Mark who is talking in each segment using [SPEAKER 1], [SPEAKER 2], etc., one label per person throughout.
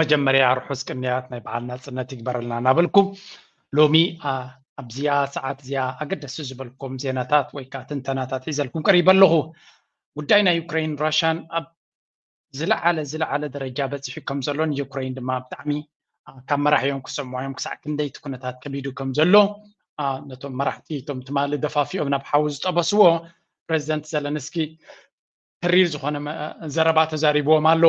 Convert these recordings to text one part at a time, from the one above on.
[SPEAKER 1] መጀመርያ ርሑስ ቅንያት ናይ በዓል ናጽነት ይግበረልና እናበልኩ ሎሚ ኣብዚኣ ሰዓት እዚኣ ኣገደሲ ዝበልኩም ዜናታት ወይ ከዓ ትንተናታት ሒዘልኩም ቀሪበ ኣለኹ ጉዳይ ናይ ዩክሬን ራሻን ኣብ ዝለዓለ ዝለዓለ ደረጃ በፂሑ ከም ዘሎን ዩክሬን ድማ ብጣዕሚ ካብ መራሕዮም ክሰምዖዮም ክሳዕ ክንደይ እቲ ኩነታት ከቢዱ ከም ዘሎ ነቶም መራሕቲ እቶም ትማሊ ደፋፊኦም ናብ ሓዊ ዝጠበስዎ ፕረዚደንት ዘለንስኪ ተሪር ዝኾነ ዘረባ ተዛሪብዎም ኣሎ።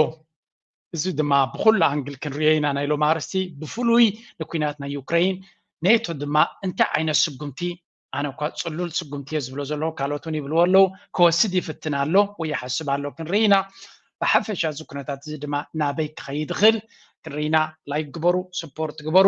[SPEAKER 1] እዚ ድማ ብኩሉ ኣንግል ክንሪኦ ኢና ናይ ሎም ኣርስቲ ብፍሉይ ንኩናት ናይ ዩክረይን ኔቶ ድማ እንታይ ዓይነት ስጉምቲ ኣነ እኳ ፅሉል ስጉምቲ እየ ዝብሎ ዘለኹ ካልኦት እውን ይብልዎ ኣለዉ ክወስድ ይፍትን ኣሎ ወይ ይሓስብ ኣሎ ክንርኢ ኢና ብሓፈሻ እዚ ኩነታት እዚ ድማ ናበይ ክኸይድ ይኽእል ክንርኢ ኢና ላይክ ግበሩ ስፖርት ግበሩ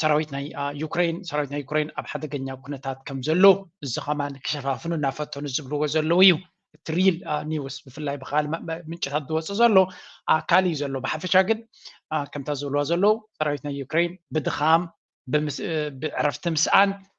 [SPEAKER 1] ሰራዊት ናይ ዩክሬን ሰራዊት ናይ ዩክሬን ኣብ ሓደገኛ ኩነታት ከም ዘሎ እዚ ከማን ክሸፋፍኑ እናፈተኑ ዝብልዎ ዘለዉ እዩ እቲ ሪል ኒውስ ብፍላይ ብካል ምንጭታት ዝወፅ ዘሎ ካል እዩ ዘሎ ብሓፈሻ ግን ከምታ ዝብልዎ ዘለዉ ሰራዊት ናይ ዩክሬን ብድኻም ብዕረፍቲ ምስኣን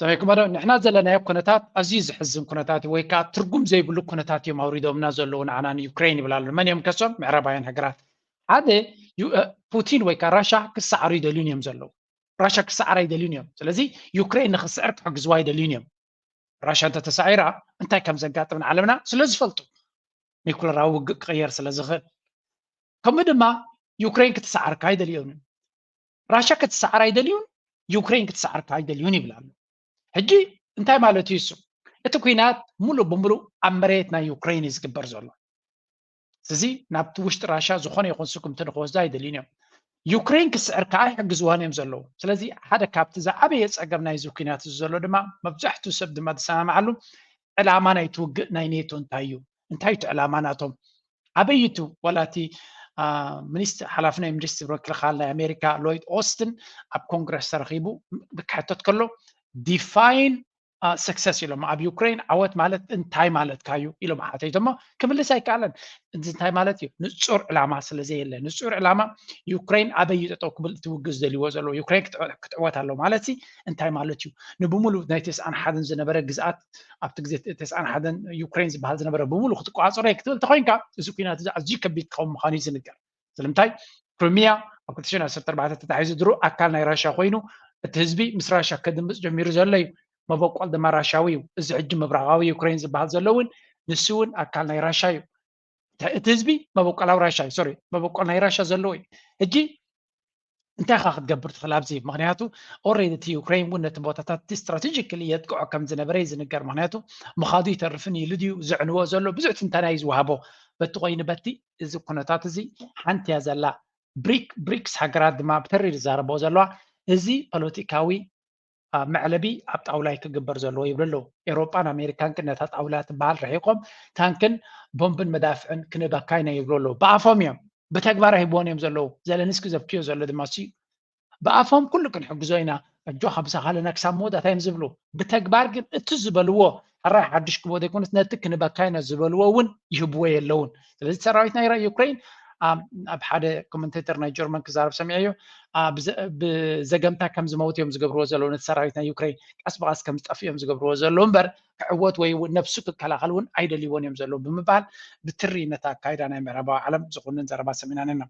[SPEAKER 1] ሰሚዕኩሞ ዶ ንሕና ዘለናዮ ኩነታት ኣዝዩ ዘሕዝን ኩነታት እዩ ወይ ከዓ ትርጉም ዘይብሉ ኩነታት እዮም ኣውሪዶምና ዘለዉ ንዓና ንዩክሬን ይብል ኣሎ መን እዮም ከሶም ምዕራባውያን ሃገራት ሓደ ፑቲን ወይ ከዓ ራሻ ክሰዓሩ ይደልዩን እዮም ዘለዉ ራሻ ክሰዓር ኣይደልዩን እዮም ስለዚ ዩክሬን ንክስዕር ክሕግዝዋ ኣይደልዩን እዮም ራሻ እንተተሳዒራ እንታይ ከም ዘጋጥም ንዓለምና ስለ ዝፈልጡ ኒኩለራዊ ውግእ ክቕየር ስለ ዝኽእል ከምኡ ድማ ዩክሬን ክትሰዓርካ ኣይደልዮምን ራሻ ክትሰዓር ኣይደልዩን ዩክሬን ክትሰዓር ኣይደልዩን ይብል ኣሎ ሕጂ እንታይ ማለት እዩ እሱ እቲ ኩናት ሙሉእ ብምሉእ ኣብ መሬት ናይ ዩክሬን እዩ ዝግበር ዘሎ እዚ ናብቲ ውሽጢ ራሻ ዝኾነ ይኹን ስጉምቲ ንክወስዱ ኣይደልዩን እዮም ዩክሬን ክስዕር ከዓ ይሕግዝዋን እዮም ዘለዉ ስለዚ ሓደ ካብቲ ዝዓበየ ፀገም ናይዚ ኩናት እዚ ዘሎ ድማ መብዛሕትኡ ሰብ ድማ ዝሰማማዓሉ ዕላማ ናይቲ ውግእ ናይ ኔቶ እንታይ እዩ እንታይ እቲ ዕላማ ናቶም ኣበይ ቱ ዋላ እቲ ሓላፊ ናይ ሚኒስትሪ ምክልኻል ናይ ኣሜሪካ ሎይድ ኦስትን ኣብ ኮንግረስ ተረኺቡ ክሕተት ከሎ ዲፋይን ሰክሰስ ኢሎም ኣብ ዩክሬን ዓወት ማለት እንታይ ማለትካ እዩ ኢሎም ሓተይቶሞ ክምልስ ኣይከኣለን እዚ እንታይ ማለት እዩ ንፁር ዕላማ ስለዘየለ ንፁር ዕላማ ዩክሬን ኣበይ ጠጠው ክብል ትውግዝ ዘልዎ ዘለዎ ዩክሬን ክትዕወት ኣሎ ማለት ሲ እንታይ ማለት እዩ ንብምሉእ ናይ ተስኣን ሓደን ዝነበረ ግዝኣት ኣብቲ ግዜ ተስዓን ሓደን ዩክሬን ዝበሃል ዝነበረ ብምሉ ክትቆፃፀሮ እየ ክትብል ተኮይንካ እዚ ኩናት እዚ ኣዝዩ ከቢድ ክኸውን ምዃኑ እዩ ዝንገር ስለምንታይ ክሪሚያ ኣብ 2014 ተታሒዙ ድሮ ኣካል ናይ ራሻ ኮይኑ እቲ ህዝቢ ምስ ራሻ ከድምፅ ጀሚሩ ዘሎ እዩ መበቆል ድማ ራሻዊ እዩ እዚ ሕጂ ምብራቃዊ ዩክሬን ዝበሃል ዘሎ እውን ንሱ እውን ኣካል ናይ ራሻ እዩ እቲ ህዝቢ መበቆላዊ ራሻ እዩ ሶሪ መበቆል ናይ ራሻ ዘለዎ እዩ ሕጂ እንታይ ካ ክትገብር ትኽእል ኣብዚ ምክንያቱ ኦሬዲ እቲ ዩክሬን እውን ነቲ ቦታታት እቲ ስትራቴጂካሊ የጥቅዖ ከም ዝነበረ እዩ ዝንገር ምክንያቱ ምኻዱ ይተርፍን ኢሉ ድዩ ዘዕንዎ ዘሎ ብዙሕ ትንተና እዩ ዝወሃቦ በቲ ኮይኑ በቲ እዚ ኩነታት እዚ ሓንቲ እያ ዘላ ብሪክ ብሪክስ ሃገራት ድማ ብተሪር ይዛረቦ ዘለዋ እዚ ፖለቲካዊ መዕለቢ ኣብ ጣውላ እዩ ክግበር ዘለዎ ይብሉ ኣለዉ። ኤውሮጳን ኣሜሪካን ግን ነታ ጣውላ ትበሃል ርሒቆም ታንክን ቦምብን መዳፍዕን ክንበካ ኢና ይብሉ ኣለዉ። ብኣፎም እዮም ብተግባር ኣይህብዎን እዮም ዘለዉ። ዘለንስኪ ዘብክዮ ዘሎ ድማ እሱ እዩ። ብኣፎም ኩሉ ክንሕግዞ ኢና ኣጆኻ ምሳኻለና ክሳብ መወዳእታ እዮም ዝብሉ። ብተግባር ግን እቲ ዝበልዎ ሕራይ ሓዱሽ ክቦ ዘይኮነስ ነቲ ክንበካይኖ ዝበልዎ እውን ይህብዎ የለውን ስለዚ ሰራዊት ናይ ዩክሬን ኣብ ሓደ ኮመንቴተር ናይ ጀርመን ክዛረብ ሰሚዐዮ ብዘገምታ ከም ዝመውት እዮም ዝገብርዎ ዘለዉ ነቲ ሰራዊት ናይ ዩክሬን ቀስ ብቀስ ከም ዝጠፍእ እዮም ዝገብርዎ ዘለዉ እምበር ክዕወት ወይ ነብሱ ክከላኸል እውን ኣይደልይዎን እዮም ዘለዉ ብምባል ብትሪ ነቲ ኣካይዳ ናይ ምዕራባዊ ዓለም ዝኹንን ዘረባ ሰሚዕና ነና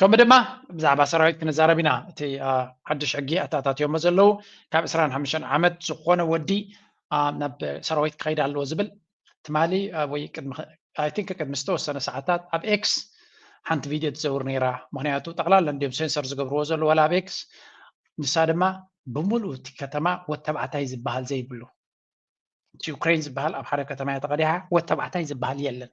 [SPEAKER 2] ከምኡ ድማ
[SPEAKER 1] ብዛዕባ ሰራዊት ክንዛረብ ኢና እቲ ሓድሽ ሕጊ ኣተኣታትዮሞ ዘለዉ ካብ ዕስራን ሓሙሽተን ዓመት ዝኾነ ወዲ ናብ ሰራዊት ክኸይድ ኣለዎ ዝብል ትማሊ ወይ ቅድሚ ኣይ ቲንክ ቅድሚ ዝተወሰነ ሰዓታት ኣብ ኤክስ ሓንቲ ቪድዮ ትዘውር ነይራ ምክንያቱ ጠቕላላ እንዲዮም ሴንሰር ዝገብርዎ ዘሎ ዋላ ኣብ ኤክስ ንሳ ድማ ብምሉእ እቲ ከተማ ወተባዕታይ ዝበሃል ዘይብሉ እቲ ዩክሬን ዝበሃል ኣብ ሓደ ከተማ እያ ተቐዲሓ ወተባዕታይ ዝበሃል የለን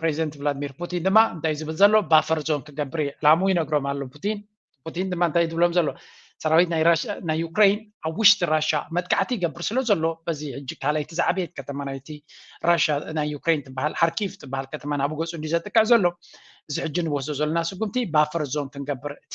[SPEAKER 1] ፕሬዚደንት ቭላድሚር ፑቲን ድማ እንታይ ዝብል ዘሎ ባፈር ዞን ክገብር እዩ ዕላሙ ይነግሮም ኣሎ ፑቲን ፑቲን ድማ እንታይ ዝብሎም ዘሎ ሰራዊት ናይ ዩክሬን ኣብ ውሽጢ ራሻ መጥቃዕቲ ይገብር ስለ ዘሎ በዚ ሕጂ ካልኣይቲ ዝዓበየት ከተማ ናይቲ ራሻ ናይ ዩክሬን ትበሃል ሓርኪቭ ትበሃል ከተማ ናብ ገፁ እንዲ ዘጥቅዕ ዘሎ እዚ ሕጂ ንወስዶ ዘለና ስጉምቲ ባፈር ዞን ክንገብር እቲ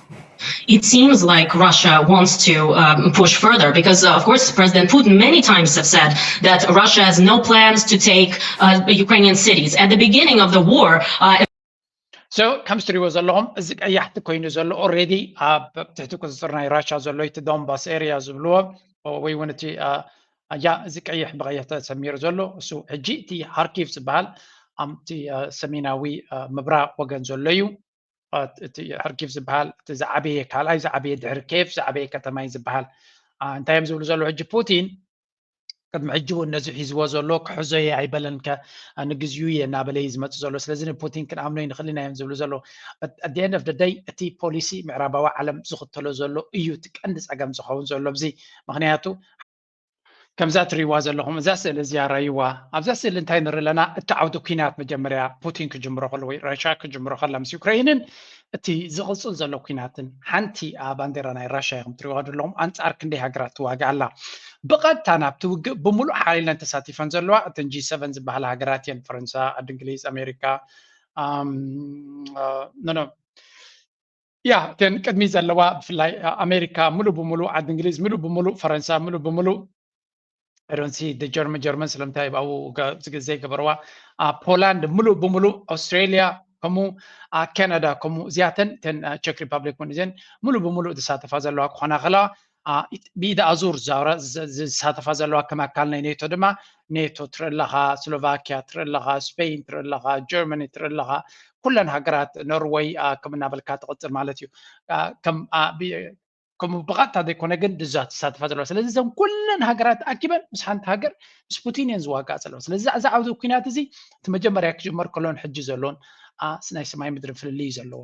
[SPEAKER 3] ኢት ሲምስ
[SPEAKER 4] ላይክ ራሻ ዋንትስ ቱ ፑሽ ፈርዘር ቢኮዝ ኦፍ ኮርስ ፕረዚደንት ፑቲን ማኒ ታይምስ ሃቭ ሰድ ዛት ራሻ ሃዝ ኖ ፕላንስ ቱ ቴክ ዩክረይንያን ሲቲስ ኣት ዘ ቢጊኒንግ ኦፍ ዘ ዋር
[SPEAKER 1] So ከም እትሪእዎ ዘለኹም እዚ ቀያሕቲ ኮይኑ ዘሎ ኦልሬዲ ኣብ ትሕቲ ቁፅፅር ናይ ራሻ ዘሎ እቲ ዶንባስ ኤሪያ ዝብልዎ ወይ እውን እቲ ኣያ እዚ ቀይሕ ብቀይሕ ተሰሚሩ ዘሎ እሱ ሕጂ እቲ ሃርኪቭ ዝበሃል ኣብቲ ሰሜናዊ ምብራቅ ወገን ዘሎ እዩ እቲ ሐርኪቭ ዝበሃል እቲ ዝዓበየ ካልኣይ ዝዓበየ ድሕሪ ኬፍ ዝዓበየ ከተማ እዩ ዝበሃል እንታይ እዮም ዝብሉ ዘለዉ ሕጂ ፑቲን ቅድሚ ሕጂ እውን ነዚ ሒዝዎ ዘሎ ክሕዞ እየ ኣይበለን ከ ንግዚኡ እየ እናበለ እዩ ዝመፅ ዘሎ ስለዚ ንፑቲን ክንኣምኖ ይንኽእል ኢና እዮም ዝብሉ ዘሎ ኣደን ኦፍ ደይ እቲ ፖሊሲ ምዕራባዊ ዓለም ዝኽተሎ ዘሎ እዩ እቲ ቀንዲ ፀገም ዝኸውን ዘሎ እዚ ምክንያቱ ከምዛ ትሪእዋ ዘለኹም እዛ ስእሊ እዚኣ ረይዋ ኣብዛ ስእሊ እንታይ ንርኢ ኣለና እቲ ዓውዲ ኩናት መጀመርያ ፑቲን ክጅምሮ ከሎ ወይ ራሻ ክጅምሮ ከላ ምስ ዩክረይንን እቲ ዝቕፅል ዘሎ ኩናትን ሓንቲ ባንዴራ ናይ ራሻ ኢኹም ትሪእዋ ዘለኹም ኣንፃር ክንደይ ሃገራት ትዋግእ ኣላ ብቐጥታ ናብቲ ውግእ ብምሉእ ሓይለን ተሳቲፈን ዘለዋ እተን ጂ ሰቨን ዝበሃላ ሃገራት እየን ፈረንሳ ዓዲ እንግሊዝ ኣሜሪካ እያ እተን ቅድሚ ዘለዋ ብፍላይ ኣሜሪካ ሙሉእ ብሙሉእ ዓዲ እንግሊዝ ሙሉእ ብሙሉእ ፈረንሳ ሙሉእ ብሙሉእ ዶንሲ ጀርመን ጀርመን ስለምንታይ ኣብኡ ዘይገበረዋ ፖላንድ ሙሉእ ብሙሉእ ኣውስትራሊያ ከምኡ ካናዳ ከምኡ እዚኣተን እተን ቸክ ሪፐብሊክ እውን እዘን ሙሉእ ብሙሉእ ዝሳተፋ ዘለዋ ክኾና ከለዋ ብኢድ ኣዙር ዝሳተፋ ዘለዋ ከም ኣካል ናይ ኔቶ ድማ ኔቶ ትርኢ ኣለኻ፣ ስሎቫኪያ ትርኢ ኣለኻ፣ ስፔይን ትርኢ ኣለኻ፣ ጀርመኒ ትርኢ ኣለኻ፣ ኩለን ሃገራት ኖርወይ ከም እናበልካ ትቕፅል ማለት እዩ ከምኡ ብቐጥታ ዘይኮነ ግን ድዛ ትሳተፋ ዘለዋ ስለዚ እዘን ኩለን ሃገራት ኣኪበን ምስ ሓንቲ ሃገር ምስ ፑቲን እየን ዝዋጋእ ዘለዋ ስለዚ እዚ ዓውዚ ኩናት እዚ እቲ መጀመርያ ክጅመር ከሎን ሕጂ ዘሎን ናይ ሰማይ ምድሪ ፍልልይ ዘለዎ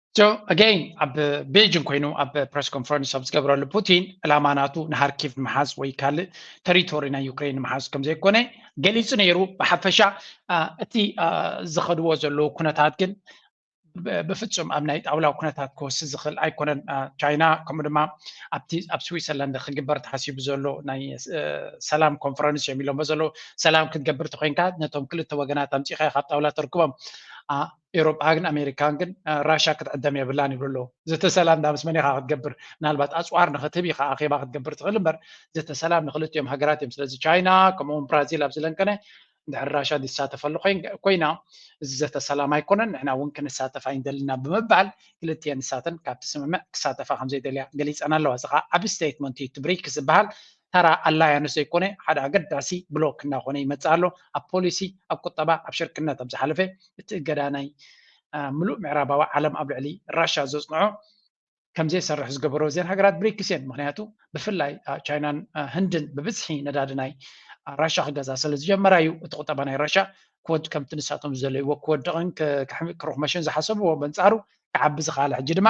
[SPEAKER 4] ሶ ኣገይን
[SPEAKER 1] ኣብ ቤጂንግ ኮይኑ ኣብ ፕረስ ኮንፈረንስ ኣብ ዝገበረሉ ፑቲን ዕላማ ናቱ ንሃርኪቭ ምሓዝ ወይ ካልእ ተሪቶሪ ናይ ዩክሬን ምሓዝ ከም ዘይኮነ ገሊጹ ነይሩ ብሓፈሻ እቲ ዝኸድዎ ዘለዉ ኩነታት ግን ብፍጹም ኣብ ናይ ጣውላ ኩነታት ክወስ ዝኽእል ኣይኮነን ቻይና ከምኡ ድማ ኣብቲ ኣብ ስዊትዘርላንድ ክግበር ተሓሲቡ ዘሎ ናይ ሰላም ኮንፈረንስ እዮም ኢሎሞ ዘለዉ ሰላም ክትገብር ተኮይንካ ነቶም ክልተ ወገናት ኣምፂኻ ካብ ጣውላ ተርክቦም ኤሮፓን ኣሜሪካን ግን ራሻ ክትዕደም የብላን ይብሉ ኣለዉ ዘተ ሰላም ዳ ምስ መን ኢካ ክትገብር ምናልባት ኣፅዋር ንክትህብ ኢካ ኣኼባ ክትገብር ትኽእል እምበር ዘተ ሰላም ንክልቲኦም ሃገራት እዮም ስለዚ ቻይና ከምኡውን ብራዚል ኣብ ዝለንቀነ ድሕሪ ራሻ ዝሳተፈሉ ኮይና እዚ ዘተ ሰላም ኣይኮነን ንሕና እውን ክንሳተፍ ኣይንደልና ብምባል ክልቲኤን ንሳተን ካብቲ ስምምዕ ክሳተፋ ከምዘይደልያ ገሊፀን ኣለዋ እዚ ከዓ ዓብ ስቴትመንት እዩ እቲ ብሪክስ ዝበሃል ተራ ኣላያንስ ዘይኮነ ሓደ ኣገዳሲ ብሎክ እናኾነ ይመጽእ ኣሎ። ኣብ ፖሊሲ፣ ኣብ ቁጠባ፣ ኣብ ሽርክነት ኣብ ዝሓለፈ እቲ እገዳ ናይ ምሉእ ምዕራባዊ ዓለም ኣብ ልዕሊ ራሻ ዘጽንዖ ከምዘይሰርሕ ዝገበሮ እዘን ሃገራት ብሪክስ እየን። ምክንያቱ ብፍላይ ቻይናን ህንድን ብብዝሒ ነዳዲ ናይ ራሻ ክገዛ ስለ ዝጀመራ እዩ እቲ ቁጠባ ናይ ራሻ ክወድ ከምቲ ንሳቶም ዝደለይዎ ክወድቕን ክርኹመሽን ዝሓሰብዎ በንጻሩ ክዓቢ ዝኸኣለ ሕጂ ድማ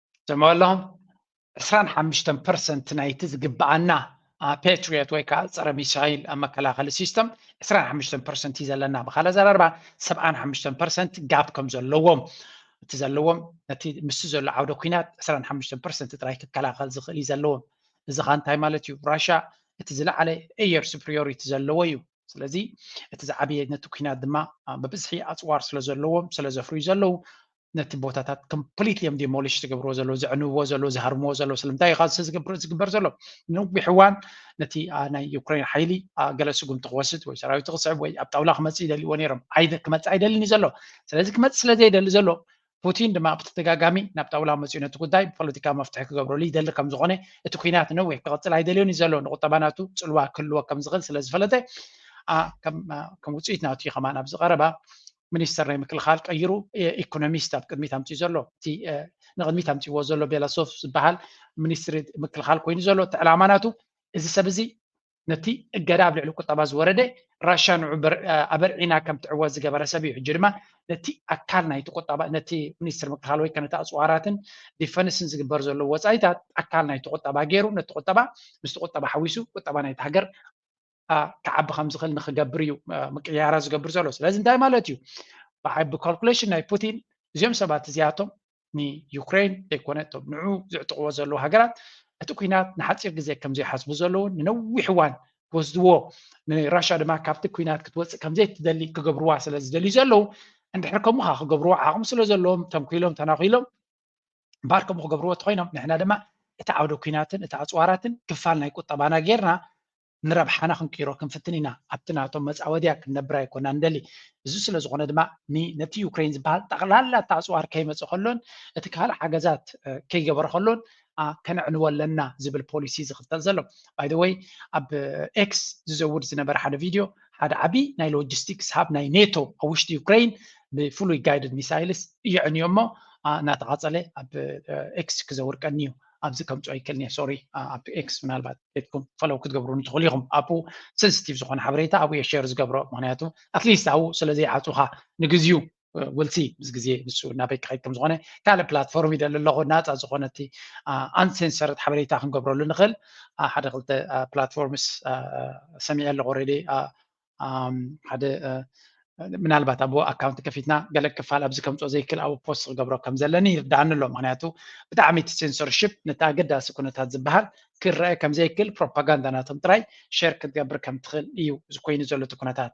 [SPEAKER 5] ትሰምዑ
[SPEAKER 1] ኣለኹም ዕስራን ሓምሽተን ፐርሰንት ናይቲ ዝግብኣና ፓትሪዮት ወይ ከዓ ፀረ ሚሳይል ኣብ መከላኸሊ ሲስተም 25 ፐርሰንት እዩ ዘለና ብካል ኣዘራርባ 75 ፐርሰንት ጋብ ከም ዘለዎም እቲ ዘለዎም ነቲ ምስ ዘሎ ዓውደ ኩናት 25 ፐርሰንት ጥራይ ክከላኸል ዝኽእል እዩ ዘለዎም እዚ ካ እንታይ ማለት እዩ ራሻ እቲ ዝለዓለ ኤየር ሱፕሪዮሪቲ ዘለዎ እዩ ስለዚ እቲ ዝዓበየ ነቲ ኩናት ድማ ብብዝሒ ኣፅዋር ስለ ዘለዎም ስለ ዘፍርዩ ዘለዉ ነቲ ቦታታት ኮምፕሊትሊ እዮም ዲሞሊሽ ዝገብርዎ ዘለዉ ዘዕንብዎ ዘለዉ ዝሃርምዎ ዘለዉ ስለምንታይ ኢኻ ዝገብር ዝግበር ዘሎ ንነዊሕ እዋን ነቲ ናይ ዩክሬን ሓይሊ ገለ ስጉምቲ ክወስድ ወይ ሰራዊት ክስዕብ ወይ ኣብ ጣውላ ክመፅእ ይደልዎ ነይሮም ክመፅእ ኣይደልን እዩ ዘሎ ስለዚ ክመፅእ ስለ ዘይደሊ ዘሎ ፑቲን ድማ ብተደጋጋሚ ናብ ጣውላ መፅኡ ነቲ ጉዳይ ብፖለቲካ መፍትሒ ክገብረሉ ይደሊ ከም ዝኾነ እቲ ኩናት ነዊሕ ክቕፅል ኣይደልዮን እዩ ዘሎ ንቁጠባ ናቱ ፅልዋ ክህልዎ ከም ዝኽእል ስለ ዝፈለጠ ከም ውፅኢት ናቱ ከማን ኣብዚ ቀረባ ሚኒስተር ናይ ምክልኻል ቀይሩ ኢኮኖሚስት ኣብ ቅድሚት ኣምፅኡ ዘሎ እቲ ንቅድሚት ኣምፅዎ ዘሎ ቤላሶፍ ዝበሃል ሚኒስትሪ ምክልኻል ኮይኑ ዘሎ እቲ ዕላማ ናቱ እዚ ሰብ እዚ ነቲ እገዳ ኣብ ልዕሊ ቁጠባ ዝወረደ ራሻ ንዑ ኣበርዒና ከም ትዕወት ዝገበረ ሰብ እዩ ሕጂ ድማ ነቲ ኣካል ናይቲ ቁጠባ ነቲ ሚኒስትር ምክልኻል ወይ ከነቲ ኣፅዋራትን ዲፈንስን ዝግበር ዘሎ ወፃኢታት ኣካል ናይቲ ቁጠባ ገይሩ ነቲ ቁጠባ ምስቲ ቁጠባ ሓዊሱ ቁጠባ ናይቲ ሃገር ክዓቢ ከም ዝኽእል ንክገብር እዩ ምቅያራ ዝገብር ዘሎ ስለዚ እንታይ ማለት እዩ ብዓቢ ካልኩሌሽን ናይ ፑቲን እዚኦም ሰባት እዚኣቶም ንዩክሬን ዘይኮነ እቶም ንዑ ዝዕጥቅዎ ዘለዉ ሃገራት እቲ ኩናት ንሓፂር ግዜ ከም ዘይሓስቡ ዘለውን ንነዊሕ እዋን ክወስድዎ ንራሻ ድማ ካብቲ ኩናት ክትወፅእ ከም ዘይትደሊ ክገብርዋ ስለ ዝደልዩ ዘለዉ እንድሕር ከምኡ ከዓ ክገብርዎ ዓቕሚ ስለ ዘለዎም ተንኪሎም ተናኺሎም እምበኣር ከምኡ ክገብርዎ እንተኾይኖም ንሕና ድማ እቲ ዓውደ ኩናትን እቲ ኣፅዋራትን ክፋል ናይ ቁጠባና ጌርና ንረብሓና ክንቅይሮ ክንፍትን ኢና ኣብቲ ናቶም መፃወድያ ክንነብር ኣይኮና ንደሊ እዚ ስለ ዝኾነ ድማ ነቲ ዩክሬን ዝበሃል ጠቕላላ እቲ ኣፅዋር ከይመፀ ከሎን እቲ ካልእ ሓገዛት ከይገበረ ከሎን ከነዕንዎ ኣለና ዝብል ፖሊሲ ዝኽተል ዘሎ ባይደወይ ኣብ ኤክስ ዝዘውድ ዝነበረ ሓደ ቪድዮ ሓደ ዓቢ ናይ ሎጂስቲክስ ሃብ ናይ ኔቶ ኣብ ውሽጢ ዩክሬን ብፍሉይ ጋይድድ ሚሳይልስ እየዕንዮ እሞ እናተቓፀለ ኣብ ኤክስ ክዘውርቀኒ እዩ ኣብዚ ከምፅኦ ይክእል እየ ሶሪ ኣብ ኤክስ ምናልባት ቤትኩም ፈለው ክትገብሩኒ ትኽእሉ ኢኹም ኣብኡ ሴንስቲቭ ዝኾነ ሓበሬታ ኣብኡ እየ ሸር ዝገብሮ ምክንያቱ ኣትሊስት ኣብኡ ስለዘይዓፁኻ ንግዚኡ ወልሲ ምስ ግዜ ንሱ ናበይ ክኸይድ ከም ዝኾነ ካልእ ፕላትፎርም ይደሊ ኣለኹ ናፃ ዝኾነቲ ኣንሴንሰርት ሓበሬታ ክንገብረሉ ንኽእል ሓደ ክልተ ፕላትፎርምስ ሰሚዐ ኣለኹ ሬዲ ሓደ ምናልባት ኣብ ኣካውንቲ ከፊትና ገለ ክፋል ኣብዚ ከምፅኦ ዘይክእል ኣብ ፖስት ክገብሮ ከም ዘለኒ ይርዳኣኒ ኣሎ ምክንያቱ ብጣዕሚ እቲ ሴንሰርሽፕ ነቲ ኣገዳሲ ኩነታት ዝበሃል ክረአ ከም ዘይክእል ፕሮፓጋንዳ ናቶም ጥራይ ሸር ክትገብር ከም ትኽእል እዩ እዚ ኮይኑ ዘሎ እቲ ኩነታት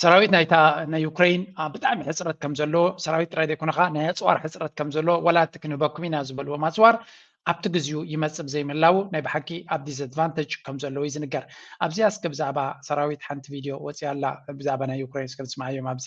[SPEAKER 1] ሰራዊት ናይታ ናይ ዩክሬን ብጣዕሚ ሕፅረት ከም ዘለዎ ሰራዊት ጥራይ ዘይኮነ ከዓ ናይ ኣፅዋር ሕፅረት ከም ዘለዎ ዋላ እቲ ክንህበኩም ኢና ዝበልዎም ኣፅዋር ኣብቲ ግዜኡ ይመፅእ ብዘይምህላዉ ናይ ብሓቂ ኣብ ዲስኣድቫንተጅ ከም ዘለዎ እዩ ዝንገር ኣብዚኣ እስከ ብዛዕባ ሰራዊት ሓንቲ ቪድዮ ወፂኣ ኣላ ብዛዕባ ናይ ዩክሬን እስከ ንስምዓዮም ኣብዚ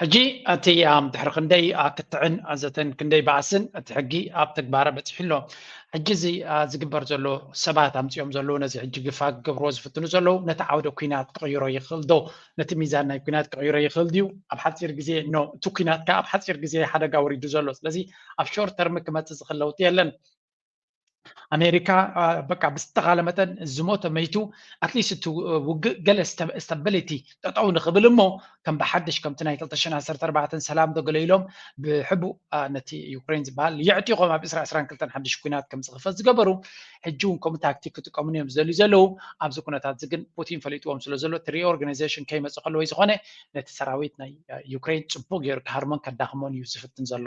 [SPEAKER 6] ሕጂ እቲ
[SPEAKER 1] ድሕሪ ክንደይ ክትዕን ኣዘተን ክንደይ ባእስን እቲ ሕጊ ኣብ ተግባረ በጺሑ ኣሎ። ሕጂ እዚ ዝግበር ዘሎ ሰባት ኣምጺኦም ዘለዉ ነዚ ሕጂ ግፋ ክገብርዎ ዝፍትኑ ዘለዉ ነቲ ዓውደ ኩናት ክቕይሮ ይኽእል ዶ? ነቲ ሚዛን ናይ ኩናት ክቕይሮ ይኽእል ድዩ? ኣብ ሓጺር ግዜ ኖ እቲ ኩናት ከኣ ኣብ ሓጺር ግዜ ሓደጋ ወሪዱ ዘሎ ስለዚ ኣብ ሾርት ተርም ክመጽእ ዝኽእል ለውጢ የለን። ኣሜሪካ በቃ ብዝተኻለ መጠን ዝሞተ መይቱ ኣትሊስት እቲ ውግእ ገለ ስተበሊቲ ጠጠው ንኽብል እሞ ከም ብሓድሽ ከምቲ ናይ 214 ሰላም ዶ ገለ ኢሎም ብሕቡእ ነቲ ዩክሬን ዝበሃል የዕጢቖም ኣብ 222 ሓድሽ ኩናት ከም ዝኽፈት ዝገበሩ ሕጂ እውን ከምኡ ታክቲክ ክጥቀሙን እዮም ዝደልዩ ዘለዉ ኣብዚ ኩነታት እዚ ግን ፑቲን ፈሊጥዎም ስለ ዘሎ እቲ ሪኦርጋናይዜሽን ከይመፅእ ከለወይ ዝኾነ ነቲ ሰራዊት ናይ ዩክሬን ፅቡቅ ገይሩ ክሃርሞን ከዳኽሞን እዩ ዝፍትን ዘሎ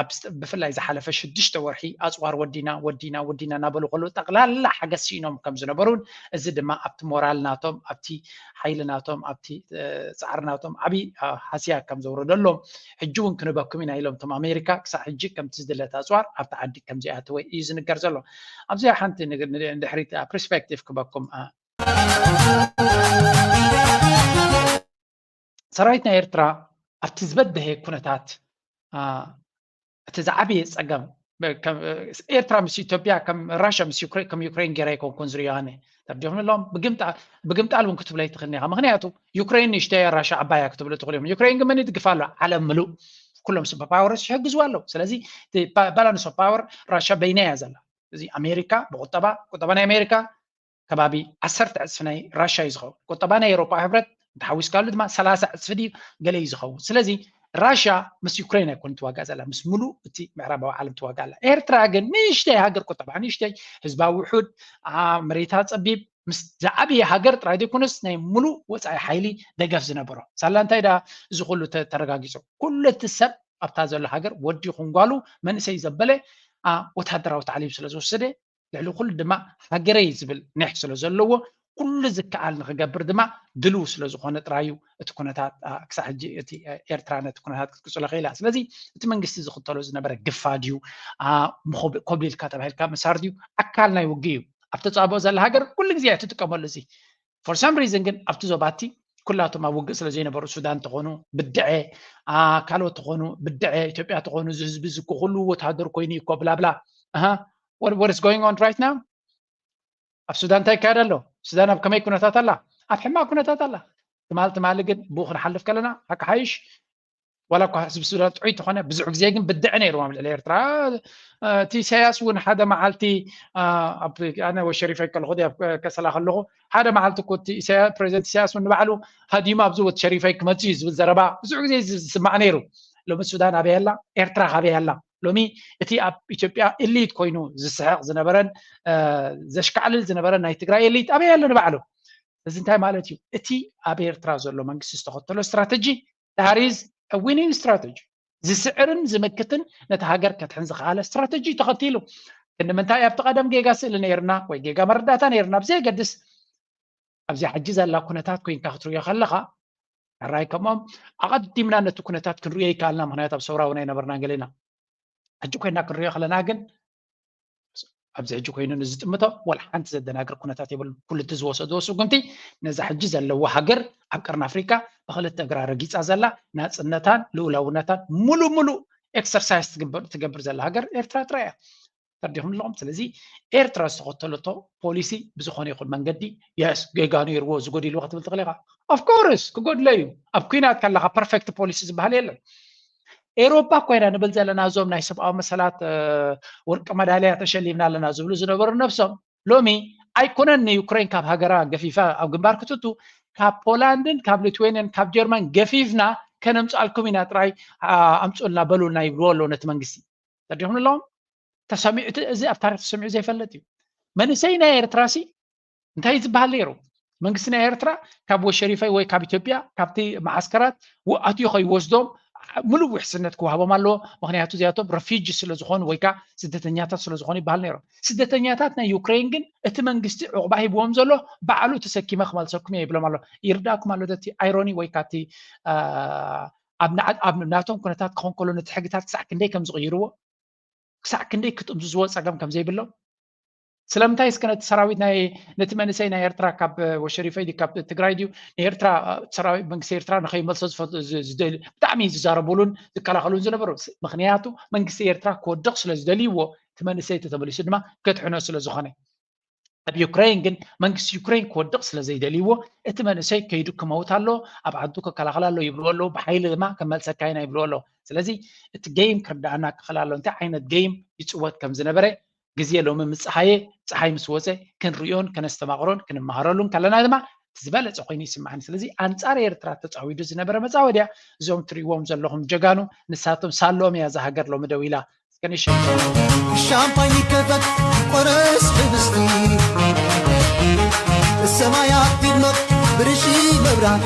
[SPEAKER 1] ኣብ ብፍላይ ዝሓለፈ ሽዱሽተ ወርሒ ኣፅዋር ወዲና ወዲና ወዲና እናበሉ ከለዉ ጠቕላላ ሓገዝ ሲኢኖም ከም ዝነበሩን እዚ ድማ ኣብቲ ሞራል ናቶም ኣብቲ ሓይሊ ናቶም ኣብቲ ፃዕሪ ናቶም ዓብዪ ሃስያ ከም ዘውረደሎም ሕጂ እውን ክንበኩም ኢና ኢሎም እቶም ኣሜሪካ ክሳብ ሕጂ ከምቲ ዝድለት ኣፅዋር ኣብቲ ዓዲ ከም ዘይኣተወ እዩ ዝንገር ዘሎ ኣብዚኣ ሓንቲ ንድሕሪት ፐርስፔክቲቭ ክበኩም ሰራዊት ናይ ኤርትራ ኣብቲ ዝበደሀ ኩነታት እቲ ዝዓበየ ፀገም ኤርትራ ምስ ኢትዮጵያ ከም ራሽያ ምስ ከም ዩክሬን ጌራ ኣይኮንኩን ዝሪኦ ኣነ ተርዲኹም ኣለዎም ብግምጣል እውን ክትብሎ ኣይትኽእልን ኢኻ ምክንያቱ ዩክሬን ንእሽተያ ራሻ ዓባያ ክትብሉ ትኽእሉ እዮም ዩክሬን ግን መን ይድግፋ ኣሎ ዓለም ምሉእ ኩሎም ሱፐር ፓወርስ ይሕግዝዋ ኣለዉ ስለዚ ባላንስ ኦፍ ፓወር ራሻ በይና እያ ዘላ እዚ ኣሜሪካ ብቁጠባ ቁጠባ ናይ ኣሜሪካ ከባቢ ዓሰርተ ዕፅፊ ናይ ራሻ እዩ ዝኸውን ቁጠባ ናይ ኤሮፓ ሕብረት እንተሓዊስካሉ ድማ ሰላሳ ዕፅፊ ድዩ ገለ እዩ ዝኸውን ስለዚ ራሻ ምስ ዩክሬን ኣይኮን ትዋጋእ ዘላ ምስ ሙሉእ እቲ ምዕራባዊ ዓለም ትዋጋ ኣላ ኤርትራ ግን ንእሽተይ ሃገር ቁጠባ ንእሽተይ ህዝባ ውሑድ መሬታ ፀቢብ ምስ ዝዓበየ ሃገር ጥራይ ዘይኮነስ ናይ ሙሉእ ወፃኢ ሓይሊ ደገፍ ዝነበሮ ሳላ እንታይ ዳ እዚ ኩሉ ተረጋጊፁ ኩሉ እቲ ሰብ ኣብታ ዘሎ ሃገር ወዲ ይኹን ጓሉ መንእሰይ ዘበለ ወተሃደራዊ ታዕሊም ስለ ዝወሰደ ልዕሊ ኩሉ ድማ ሃገረይ ዝብል ኒሕ ስለ ዘለዎ ኩሉ ዝከኣል ንክገብር ድማ ድልው ስለ ዝኾነ ጥራይ እዩ እቲ ኩነታት ክሳዕ ሕጂ እቲ ኤርትራ ነቲ ኩነታት ክትቅፅሎ ክኢላ ስለዚ እቲ መንግስቲ ዝኽተሎ ዝነበረ ግፋ ድዩ ኮብሊልካ ተባሂልካ ምሳር ድዩ ኣካል ናይ ውግእ እዩ ኣብ ተፃብኦ ዘላ ሃገር ኩሉ ግዜ እትጥቀመሉ እዚ ፎር ሳም ሪዝን ግን ኣብቲ ዞባቲ ኩላቶም ኣብ ውግእ ስለዘይነበሩ ሱዳን ተኾኑ ብድዐ ካልኦት ተኾኑ ብድዐ ኢትዮጵያ ተኾኑ እዚ ህዝቢ እዚ ኩሉ ወተሃደር ኮይኑ እኮ ብላብላ ወርስ ጎይንግ ኦን ራይት ናው ኣብ ሱዳን እንታይ ይካየድ ኣሎ ሱዳን ኣብ ከመይ ኩነታት ኣላ ኣብ ሕማቅ ኩነታት ኣላ ትማል ትማሊ ግን ብኡ ክንሓልፍ ከለና ሓቂ ሓይሽ ዋላ እኳ ህዝቢ ሱዳን ጥዑይ ተኾነ ብዙሕ ግዜ ግን ብድዐ ነይርዎ ኣብ ልዕሊ ኤርትራ እቲ ኢሳያስ እውን ሓደ መዓልቲ ኣነ ወሸሪፈ ከለኹ ኣብ ከሰላ ከለኹ ሓደ መዓልቲ እኮ እቲ ፕሬዚደንት ኢሳያስ እውን ንባዕሉ ሃዲማ ኣብዚ ወት ሸሪፈይ ክመፅ እዩ ዝብል ዘረባ ብዙሕ ግዜ ዝስማዕ ነይሩ ሎሚ ሱዳን ኣበይ ኣላ ኤርትራ ካበይ ኣላ ሎሚ እቲ ኣብ ኢትዮጵያ ኤሊት ኮይኑ ዝስሕቕ ዝነበረን ዘሽካዕልል ዝነበረን ናይ ትግራይ ኤሊት ኣበይ ኣሎ ንባዕሉ እዚ እንታይ ማለት እዩ? እቲ ኣብ ኤርትራ ዘሎ መንግስቲ ዝተኸተሎ ስትራተጂ ዳት ኢዝ አ ዊኒንግ ስትራተጂ ዝስዕርን ዝምክትን ነቲ ሃገር ከድሕን ዝኸኣለ ስትራተጂ እዩ ተኸቲሉ። ግን ንምንታይ ኣብቲ ቀደም ጌጋ ስእሊ ነይርና ወይ ጌጋ መረዳእታ ነይርና ብዘየገድስ ኣብዚኣ ሕጂ ዘላ ኩነታት ኮይንካ ክትርእዮ ከለኻ ሕራይ ከምኦም ኣቐዲምና ነቲ ኩነታት ክንርእዮ ይከኣልና ምክንያት ኣብ ሰውራ እውን ኣይነበርናን ገሌና ሕጂ ኮይና ክንርእዮ ከለና ግን ኣብዚ ሕጂ ኮይኑ ንዝጥምቶ ዋላ ሓንቲ ዘደናግር ኩነታት የብሉ ኩሉ እቲ ዝወሰድዎ ስጉምቲ ነዛ ሕጂ ዘለዎ ሃገር ኣብ ቀርኒ ኣፍሪካ ብክልተ እግራ ረጊፃ ዘላ ናፅነታን ልኡላውነታን ሙሉእ ሙሉእ ኤክሰርሳይዝ ትገብር ዘላ ሃገር ኤርትራ ጥራይ እያ ተርዲኹም ኣለኹም ስለዚ ኤርትራ ዝተኸተለቶ ፖሊሲ ብዝኾነ ይኹን መንገዲ የስ ጌጋ ነይርዎ ዝጎዲልዎ ክትብል ትኽእል ኢኻ ኦፍኮርስ ክጎድለ እዩ ኣብ ኩናት ከለካ ፐርፌክት ፖሊሲ ዝበሃል የለን ኤሮፓ እኳ ኢና ንብል ዘለና እዞም ናይ ሰብኣዊ መሰላት ወርቂ መዳልያ ተሸሊምና ኣለና ዝብሉ ዝነበሩ ነብሶም ሎሚ ኣይኮነን ንዩክሬን ካብ ሃገራ ገፊፋ ኣብ ግንባር ክትቱ ካብ ፖላንድን ካብ ሊትዌንያን ካብ ጀርመን ገፊፍና ከነምፅኣልኩም ኢና ጥራይ ኣምፁልና በሉልና ይብልዎ ኣለዉ ነቲ መንግስቲ ተዲኹም ኣለዎም ተሰሚዑ እዚ ኣብ ታሪክ ተሰሚዑ ዘይፈለጥ እዩ መንእሰይ ናይ ኤርትራሲ እንታይ እዩ ዝበሃል ነይሩ መንግስቲ ናይ ኤርትራ ካብ ወሸሪፈይ ወይ ካብ ኢትዮጵያ ካብቲ መዓስከራት ኣትዩ ከይወስዶም ምሉእ ውሕስነት ክወሃቦም ኣለዎ ምክንያቱ እዚኣቶም ረፊጂ ስለዝኾኑ ወይ ከዓ ስደተኛታት ስለዝኾኑ ይበሃል ነይሮም ስደተኛታት ናይ ዩክሬን ግን እቲ መንግስቲ ዕቑባ ሂብዎም ዘሎ ባዕሉ ተሰኪመ ክመልሰኩም እየ ይብሎም ኣሎ ይርዳእኩም ኣሎ እቲ ኣይሮኒ ወይ ከዓ እቲ ኣብ ናቶም ኩነታት ክኾን ከሎ ነቲ ሕግታት ክሳዕ ክንደይ ከም ዝቕይርዎ ክሳዕ ክንደይ ክጥምዝዝዎ ፀገም ከም ዘይብሎም ስለምንታይ እስከ ነቲ ሰራዊት ናይ ነቲ መንእሰይ ናይ ኤርትራ ካብ ወሸሪፈይ ድዩ ካብ ትግራይ ድዩ ንኤርትራ ሰራዊት መንግስቲ ኤርትራ ንከይመልሶ ዝደሊ ብጣዕሚ ዝዛረቡሉን ዝከላኸሉን ዝነበሩ ምክንያቱ መንግስቲ ኤርትራ ክወድቕ ስለ ዝደልይዎ እቲ መንእሰይ ተተመሊሱ ድማ ከድሕኖ ስለ ዝኾነ ኣብ ዩክሬን ግን መንግስቲ ዩክሬን ክወድቕ ስለ ዘይደልይዎ እቲ መንእሰይ ከይዱ ክመውት ኣሎ ኣብ ዓዱ ከከላኸል ኣሎ ይብልዎ ኣለዉ ብሓይሊ ድማ ከመልሰካ ኢና ይብልዎ ኣለዉ ስለዚ እቲ ገይም ክርዳኣና ክኽእል ኣሎ እንታይ ዓይነት ገይም ይፅወት ከም ዝነበረ ግዜ ሎሚ ምስ ጸሃየ ጸሓይ ምስ ወጸ ክንርእዮን ከነስተማቕሮን ክንመሃረሉን ከለና ድማ እቲ ዝበለጸ ኮይኑ ይስምዓኒ ስለዚ ኣንጻር ኤርትራ ተጻዊዱ ዝነበረ መጻወድያ እዞም ትሪዎም ዘለኹም ጀጋኑ ንሳቶም ሳለኦም እያ እዛ ሃገር ሎሚ ደው ኢላ እስከ ንሸ ሻምፓኝ
[SPEAKER 7] ይከፈት ቆረስ ሕብስቲ ሰማያት ይድመቕ ብርሺ መብራት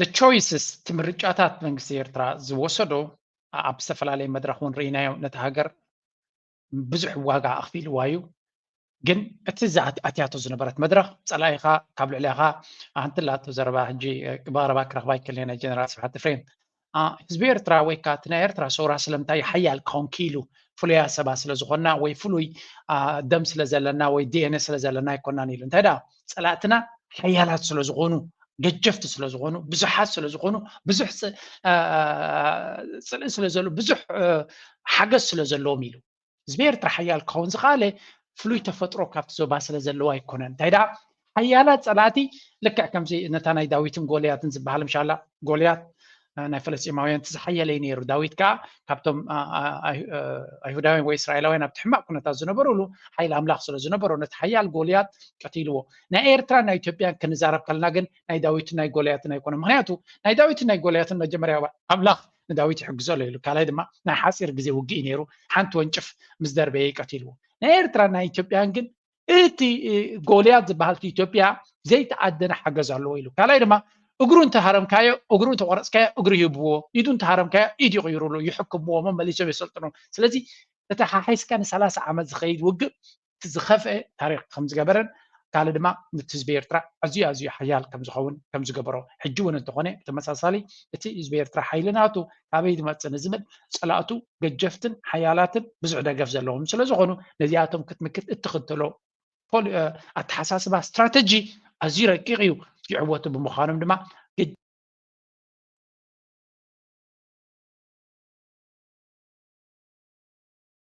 [SPEAKER 1] The choices እቲ ምርጫታት መንግስቲ ኤርትራ ዝወሰዶ ኣብ ዝተፈላለየ መድረኽ እውን ርኢናዮ ነታ ሃገር ብዙሕ ዋጋ ኣኽፊልዋ እዩ ግን እቲ ኣትያቶ ዝነበረት መድረኽ ፀላኢኻ ካብ ልዕሊኻ ኣንትላቶ ዘረባ ሕጂ ብቐረባ ክረኽባ ይክእል ጀነራል ስብሓት ፍሬም ህዝቢ ኤርትራ ወይ ከዓ እቲ ናይ ኤርትራ ሰውራ ስለምንታይ እዩ ሓያል ክኸውን ክኢሉ ፍሉያ ሰባት ስለ ዝኾንና ወይ ፍሉይ ደም ስለ ዘለና ወይ ዲኤንኤ ስለ ዘለና ኣይኮናን ኢሉ እንታይ ደኣ ፀላእትና ሓያላት ስለ ዝኾኑ ገጀፍቲ ስለ ዝኾኑ ብዙሓት ስለ ዝኾኑ ብዙሕ ፅልኢ ስለ ዘሎ ብዙሕ ሓገዝ ስለ ዘለዎም ኢሉ ህዝቢ ኤርትራ ሓያል ክኸውን ዝኸኣለ ፍሉይ ተፈጥሮ ካብቲ ዞባ ስለ ዘለዎ ኣይኮነን እንታይ ደኣ ሓያላት ጸላእቲ ልክዕ ከምዚ ነታ ናይ ዳዊትን ጎልያትን ዝበሃል ምሻላ ጎልያት ናይ ፈለስጢማውያን እቲ ዝሓየለ እዩ ነይሩ ዳዊት ከዓ ካብቶም ኣይሁዳውያን ወይ እስራኤላውያን ኣብቲ ሕማቅ ኩነታት ዝነበሩሉ ሓይሊ ኣምላኽ ስለ ዝነበሮ ነቲ ሓያል ጎልያት ቀቲልዎ ናይ ኤርትራን ናይ ኢትዮጵያን ክንዛረብ ከለና ግን ናይ ዳዊትን ናይ ጎልያትን ኣይኮነ ምክንያቱ ናይ ዳዊትን ናይ ጎልያትን መጀመርያ ኣምላኽ ንዳዊት ይሕግዞ ኣሎ ኢሉ ካልኣይ ድማ ናይ ሓፂር ግዜ ውግእ እዩ ነይሩ ሓንቲ ወንጭፍ ምስ ደርበየ ቀቲልዎ ናይ ኤርትራን ናይ ኢትዮጵያን ግን እቲ ጎልያት ዝበሃል እቲ ኢትዮጵያ ዘይተኣደነ ሓገዝ ኣለዎ ኢሉ ካልኣይ ድማ እግሩ እንተሃረምካዮ እግሩ እንተቆረፅካዮ እግሪ ይህብዎ ኢዱ እንተሃረምካዮ ኢድ ይቕይሩሉ ይሕክምዎ መመሊሶም የሰልጥኑ ስለዚ እቲ ሓሒስካ ንሰላሳ ዓመት ዝኸይድ ውግእ እቲ ዝኸፍአ ታሪኽ ከም ዝገበረን ካልእ ድማ ንቲ ህዝቢ ኤርትራ ኣዝዩ ኣዝዩ ሓያል ከም ዝኸውን ከም ዝገበሮ ሕጂ እውን እንተኾነ ብተመሳሳሊ እቲ ህዝቢ ኤርትራ ሓይሊ ናቱ ካበይ ዝመጽእ ንዝብል ጸላእቱ ገጀፍትን ሓያላትን ብዙሕ ደገፍ ዘለዎም ስለ ዝኾኑ ነዚኣቶም ክትምክት እትኽተሎ ኣተሓሳስባ ስትራተጂ ኣዝዩ ረቂቕ እዩ ይዕወቱ ብምዃኖም ድማ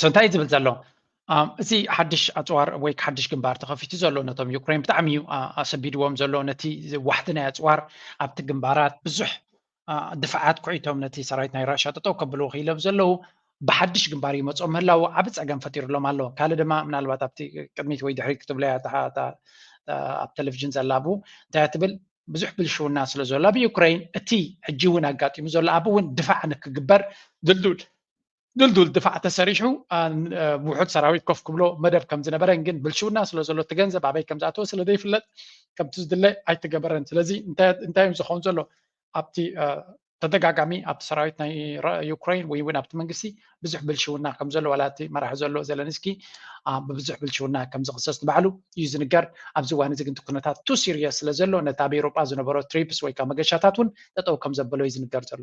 [SPEAKER 1] ሶ እንታይ ዝብል ዘሎ እዚ ሓድሽ ኣፅዋር ወይ ሓድሽ ግንባር ተኸፊቱ ዘሎ ነቶም ዩክሬን ብጣዕሚ እዩ ኣሰቢድዎም ዘሎ ነቲ ዋሕቲ ናይ ኣፅዋር ኣብቲ ግንባራት ብዙሕ ድፍዓት ኩዒቶም ነቲ ሰራዊት ናይ ራሻ ጠጠው ከብሉ ክኢሎም ዘለዉ ብሓድሽ ግንባር ይመፆ ምህላው ዓብ ፀገም ፈጢሩሎም ኣሎ ካልእ ድማ ምናልባት ኣብቲ ቅድሚት ወይ ድሕሪት ክትብሎ እያ ኣብ ቴሌቭዥን ዘላቡ እንታይ ትብል ብዙሕ ብልሽውና ስለ ዘሎ ኣብ ዩክሬን እቲ ሕጂ እውን ኣጋጢሙ ዘሎ ኣብ እውን ድፋዕ ንክግበር ድልዱል ድልዱል ድፋዕ ተሰሪሑ ውሑድ ሰራዊት ኮፍ ክብሎ መደብ ከም ዝነበረን ግን ብልሽውና ስለ ዘሎ እቲ ገንዘብ ኣበይ ከም ዝኣተወ ስለ ዘይፍለጥ ከምቲ ዝድለ ኣይተገበረን ስለዚ እንታይ እዩ ዝኸውን ዘሎ ኣብቲ ተደጋጋሚ ኣብቲ ሰራዊት ናይ ዩክሬን ወይ እውን ኣብቲ መንግስቲ ብዙሕ ብልሽውና ከም ዘሎ ዋላ እቲ መራሒ ዘሎ ዘለንስኪ ብብዙሕ ብልሽውና ከም ዝኽሰስ ንባዕሉ እዩ ዝንገር ኣብዚ እዋን እዚ ግን ኩነታት ቱ ሲሪየስ ስለ ዘሎ ነቲ ኣብ ኤሮጳ ዝነበሮ ትሪፕስ ወይ ከዓ መገሻታት እውን ጠጠው ከም ዘበሎ እዩ ዝንገር ዘሎ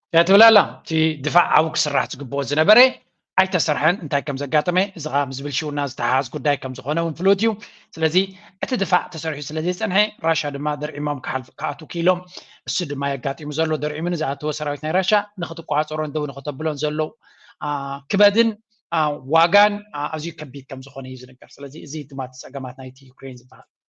[SPEAKER 8] እንታይ ትብል ኣላ እቲ ድፋዕ ኣብኡ ክስራሕ ዝግብኦ ዝነበረ ኣይተሰርሐን እንታይ ከም ዘጋጠመ እዚ ከዓ ምስ ብልሽውና ዝተሓሓዝ ጉዳይ ከም ዝኾነ እውን ፍሉጥ እዩ ስለዚ እቲ ድፋዕ ተሰሪሑ ስለ ዘይፀንሐ ራሻ ድማ ደርዒሞም ክሓልፉ ክኣትው ክኢሎም እሱ ድማ እዩ ኣጋጢሙ ዘሎ ደርዒሙ ንዝኣተወ ሰራዊት ናይ ራሻ ንክትቆፃፀሮን ደው ንክተብሎን ዘሎ ክበድን ዋጋን ኣዝዩ ከቢድ ከም ዝኾነ እዩ ዝንገር ስለዚ እዚ ድማ እቲ ፀገማት ናይቲ ዩክሬን ዝበሃል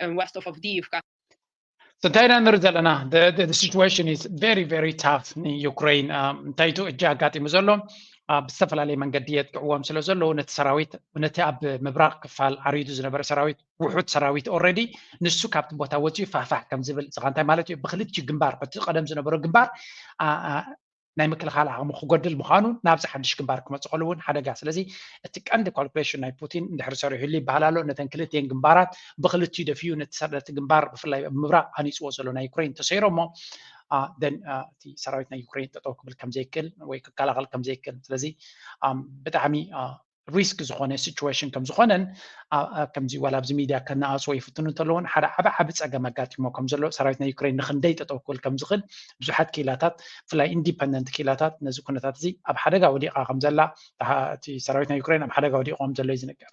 [SPEAKER 8] and west of Avdiivka. So Thailand Rizalana, the, the, the situation is very, very tough in Ukraine. Um, ታይቱ እጃ ኣጋጢሙ ዘሎ ኣብ ዝተፈላለየ መንገዲ የጥቅዕዎም ስለ ዘሎ ነቲ ሰራዊት ነቲ ኣብ ምብራቕ ክፋል ዓሪዱ ዝነበረ ሰራዊት ውሑድ ሰራዊት ኦልሬዲ ንሱ ካብቲ ቦታ ወፂኡ ፋሕፋሕ ከም ዝብል ዝኻ እንታይ ማለት እዩ ብክልቲኡ ግንባር እቲ ቀደም ዝነበሮ ግንባር ናይ ምክልኻል ዓቕሙ ክጎድል ምዃኑ ናብዚ ሓድሽ ግንባር ክመፅእ ከሉ እውን ሓደጋ ስለዚ እቲ ቀንዲ ካልኩሌሽን ናይ ፑቲን እንድሕር ሰሪሑሉ ይበሃል ኣሎ ነተን ክልቲኤን ግንባራት ብክልቲኡ ደፊኡ ነቲ ሰረቲ ግንባር ብፍላይ ኣብ ምብራቕ ሃኒፅዎ ዘሎ ናይ ዩክሬን ተሰይሮ እሞ ደን እቲ ሰራዊት ናይ ዩክሬን ጠጠው ክብል ከምዘይክእል ወይ ክከላኸል ከምዘይክእል ስለዚ ብጣዕሚ ሪስክ ዝኾነ ሲቹዌሽን ከም ዝኾነን ከምዚ ዋላ ኣብዚ ሚድያ ከነኣፅዎ ይፍትኑ እንተለውን ሓደ ዓብ ዓብ ፀገም ኣጋጢሞ ከም ዘሎ ሰራዊት ናይ ዩክሬን ንክንደይ ጠጠው ክብል ከም ዝኽእል ብዙሓት ክኢላታት ብፍላይ ኢንዲፐንደንት ክኢላታት ነዚ ኩነታት እዚ ኣብ ሓደጋ ወዲቓ ከም ዘላ እቲ ሰራዊት ናይ ዩክሬን ኣብ ሓደጋ ወዲቑ ከም ዘሎ እዩ ዝንገር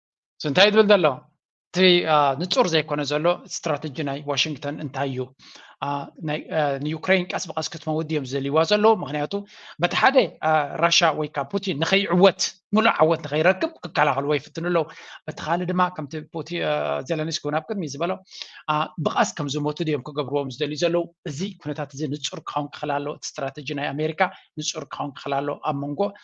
[SPEAKER 9] እንታይ ዝብል
[SPEAKER 8] ዘሎ እቲ ንፁር ዘይኮነ ዘሎ ስትራተጂ ናይ ዋሽንግተን እንታይ እዩ ንዩክሬን ቀስ ብቀስ ክትመውት እዮም ዝደልይዋ ዘለዉ ምክንያቱ በቲ ሓደ ራሻ ወይ ከዓ ፑቲን ንከይዕወት ሙሉእ ዓወት ንከይረክብ ክከላኸልዎ ይፍትኑ ኣለዉ በቲ ካልእ ድማ ከምቲ ዘለንስኪ እውን ኣብ ቅድሚ ዝበሎ ብቀስ ከም ዝሞቱ ድዮም ክገብርዎም ዝደልዩ ዘለዉ እዚ ኩነታት እዚ ንፁር ክኸውን ክኽእል ኣለዎ እቲ ስትራተጂ ናይ ኣሜሪካ ንፁር ክኸውን ክኽእል ኣለዎ ኣብ መንጎ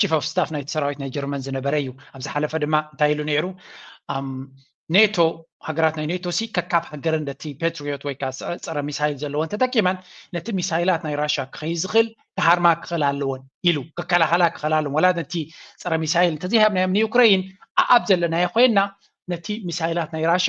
[SPEAKER 8] ቺፍ ኦፍ ስታፍ ናይቲ ሰራዊት ናይ ጀርመን ዝነበረ እዩ ኣብ ዝሓለፈ ድማ እንታይ ኢሉ ነይሩ ኔቶ ሃገራት ናይ ኔቶ ሲ ከካብ ሃገረን ነቲ ፔትሪዮት ወይ ከዓ ፀረ ሚሳይል ዘለወን ተጠቂመን ነቲ ሚሳይላት ናይ ራሻ ክኸይ ዝኽእል ክሃርማ ክኽእል ኣለወን ኢሉ ክከላኸላ ክኽእል ኣለወን ወላ ነቲ ፀረ ሚሳይል እንተዘይሃብናዮም ንዩክረይን ኣኣብ ዘለናዮ ኮይና ነቲ ሚሳይላት ናይ ራሻ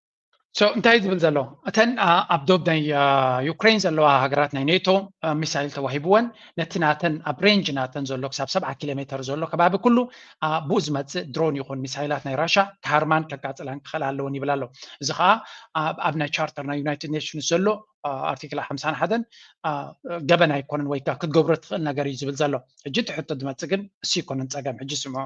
[SPEAKER 10] ሶ እንታይ
[SPEAKER 8] ዝብል ዘሎ እተን ኣብ ዶብ ናይ ዩክሬን ዘለዋ ሃገራት ናይ ኔቶ ሚሳይል ተዋሂብወን ነቲ ናተን ኣብ ሬንጅ ናተን ዘሎ ክሳብ ሰብዓ ኪሎ ሜተር ዘሎ ከባቢ ኩሉ ብኡ ዝመፅእ ድሮን ይኹን ሚሳይላት ናይ ራሻ ክሃርማን ከቃፅላን ክኽእል ኣለወን ይብል ኣሎ እዚ ከዓ ኣብ ናይ ቻርተር ናይ ዩናይትድ ኔሽንስ ዘሎ ኣርቲክል ሓምሳን ሓደን ገበን ኣይኮነን ወይ ከዓ ክትገብሮ ትኽእል ነገር እዩ ዝብል ዘሎ ሕጂ እቲ ሕቶ ዝመፅእ ግን እሱ ይኮነን ፀገም ሕጂ ስምዖ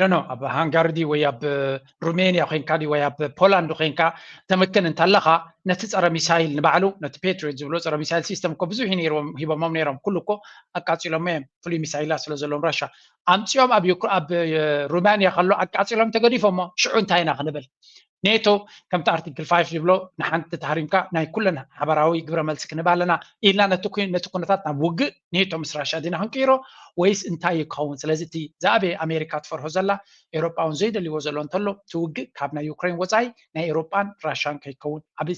[SPEAKER 8] ዶኖ ኣብ ሃንጋሪ ድዩ ወይ ኣብ ሩሜንያ ኮንካ ድዩ ወይ ኣብ ፖላንድ ኮንካ ተምክን እንተለካ ነቲ ፀረ ሚሳይል ንባዕሉ ነቲ ፔትሪዮት ዝብሎ ፀረ ሚሳይል ሲስተም እኮ ብዙሕ እዩ ነይሮም ሂቦሞም ነይሮም ኩሉ እኮ ኣቃፂሎሞ እዮም ፍሉይ ሚሳይላ ስለ ዘለዎም ራሻ ኣምፅኦም ኣብ ሩማንያ ከሎ ኣቃፂሎም ተገዲፎሞ ሽዑ እንታይ ኢና ክንብል ኔቶ ከምቲ ኣርቲክል ፋይፍ ዝብሎ ንሓንቲ ተሃሪምካ ናይ ኩለን ሓበራዊ ግብረ መልሲ ክንህብ ኣለና ኢልና ነቲ ኩነታት ናብ ውግእ ኔቶ ምስ ራሻ ዲና ክንቅይሮ ወይስ እንታይ እዩ ክኸውን ስለዚ እቲ ዝኣበየ ኣሜሪካ ትፈርሆ ዘላ ኤሮጳውን ዘይደልይዎ ዘሎ እንተሎ እቲ ውግእ ካብ ናይ ዩክሬን ወፃኢ ናይ ኤሮጳን ራሻን ከይከውን ኣብ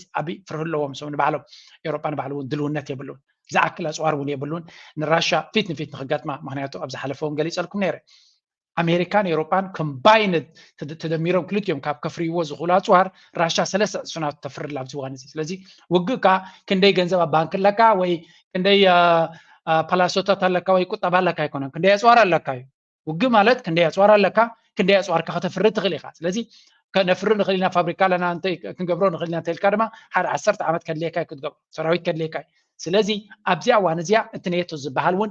[SPEAKER 8] ፍርህ ኣለዎም ሰም ንባዕሎም ኤሮጳ ንባዕሉ እውን ድልውነት የብሉን ዝኣክል ኣፅዋር እውን የብሉን ንራሻ ፊት ንፊት ንክገጥማ ምክንያቱ ኣብ ዝሓለፈ እውን ገሊፀልኩም ነይረ ኣሜሪካን ኤውሮጳን ኮምባይንድ ተደሚሮም ክልቲኦም ካብ ከፍርይዎ ዝኽእሉ ኣጽዋር ራሻ ሰለስተ ዕጽፊ ናቱ ተፍርላ ኣብዚ እዋን እዚ ስለዚ ውግእ ከዓ ክንደይ ገንዘብ ኣብ ባንክ ኣለካ ወይ ክንደይ ፓላሶታት ኣለካ ወይ ቁጠባ ኣለካ ኣይኮነን ክንደይ ኣጽዋር ኣለካ እዩ ውግእ ማለት ክንደይ ኣጽዋር ኣለካ ክንደይ ኣጽዋርካ ከተፍሪ ትኽእል ኢኻ ስለዚ ከነፍሪ ንኽእል ኢና ፋብሪካ ኣለና እንተ ክንገብሮ ንኽእል ኢና እንተልካ ድማ ሓደ ዓሰርተ ዓመት ከድልየካ እዩ ክትገብሮ ሰራዊት ከድልየካ እዩ ስለዚ ኣብዚኣ እዋን እዚኣ እቲ ኔቶ ዝበሃል እውን